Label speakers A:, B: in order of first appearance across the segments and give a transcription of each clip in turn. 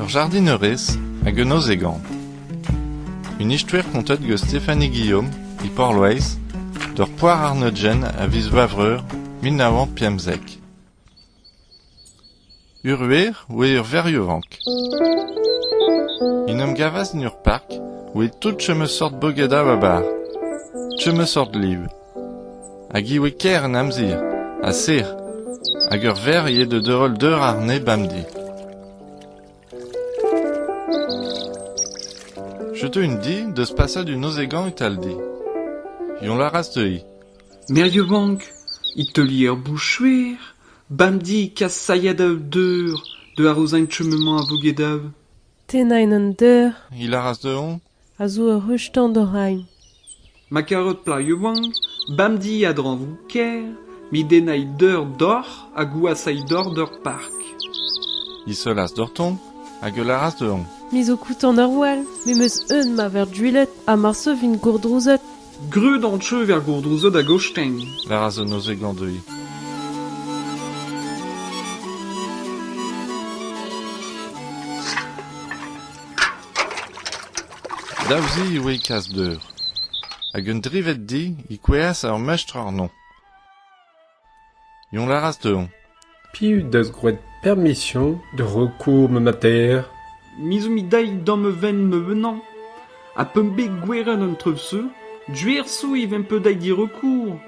A: Ur jardinerez hag un ozhegan. Un istouer kontet gant Stéphanie Guillaume e Porloeiz d'ur poar-arnodjenn a viz Vavreur mil nav c'hant pemzek. Ur wer oa ur verriovank. En em gavas en ur park, oe tout chom eus seurt bogedañ 'ba bar. Chom eus seurt liv. Hag ivez ker an amzer, ha sec'h, hag ur verc'h eo da deurel deur ar nez bemdez. Setu un di deus paset un nozegañ italdi. Yoñ laras teuiñ. Merioù-bank,
B: e teuli er bouchouer, bemdez kasailhat dav deur, deuet a rozañ chumemañ a vouge dav. Tennañ en
C: un deur. He laras dezhoñ.
A: a zo ur ruz-tan
C: d'hor c'hein. Ma karot
B: plaioù vank, bamdi a-dreñvoù ker, midennait deur doc'h ha gouasait doc'h d'ur park.
A: Disoloas doc'htoñ hag e lâras dezhoñ. Me zo kutant ar
C: wall, me 'm eus eun ma ver duilhet ha mar sevin gourdrouzet, Greut an
B: treuv er gourdozad a-gosteng. War a zo neuze
A: glañv dezhi. Dav-se e oe kas d'eur. Hag un dreved di e kouezhas ur mestr àrnomp. Dont a ras dezhañ. Piv 'deus
D: graet permisioñ da recours ma mater? Me zo-mp
B: daet da ma venn ma vennañ, ha p'am bet gwerenn an trev-se, Gwerso e vemp bet daet d'e recours,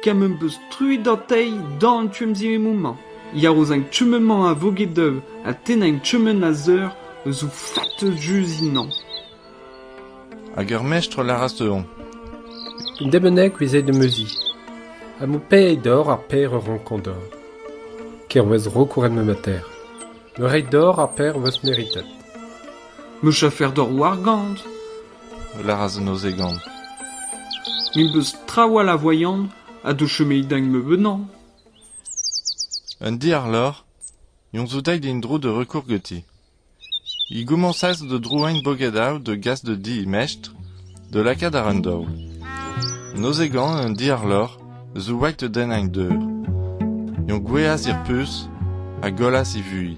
B: ken m'em beus truet dezhañ d'an tu-emziemmoù-mañ. Yar ouzh an kement-mañ a vo get-eu, ha tennañ kement a zeur eus ho fatez just ennañ.
A: Hag ar mestr a lâras dezhañ. Un den
D: bennak 'vez aet da neuze, ha m'ho pee dor ar paer a rankan deoc'h. Ker 'oas rok war ma mater. Me reiñ dor ar paer 'oas meritet. Me
B: chafer dor wargant, a
A: lâras an ozegant.
B: Me 'm eus trawalc'h a voailhan ha d'ho chomeit da meubeutañ.
A: Un diar lor, Yoñ zo daet en-dro da recours ganti. He gomañsas da drouain Bogedal da gas da di he mestr da lakaat àr an daol. Nozegan an diàr-lorc'h zo white da dennañ deur. Eñ gouezhas er puñs ha gollas he vuhez.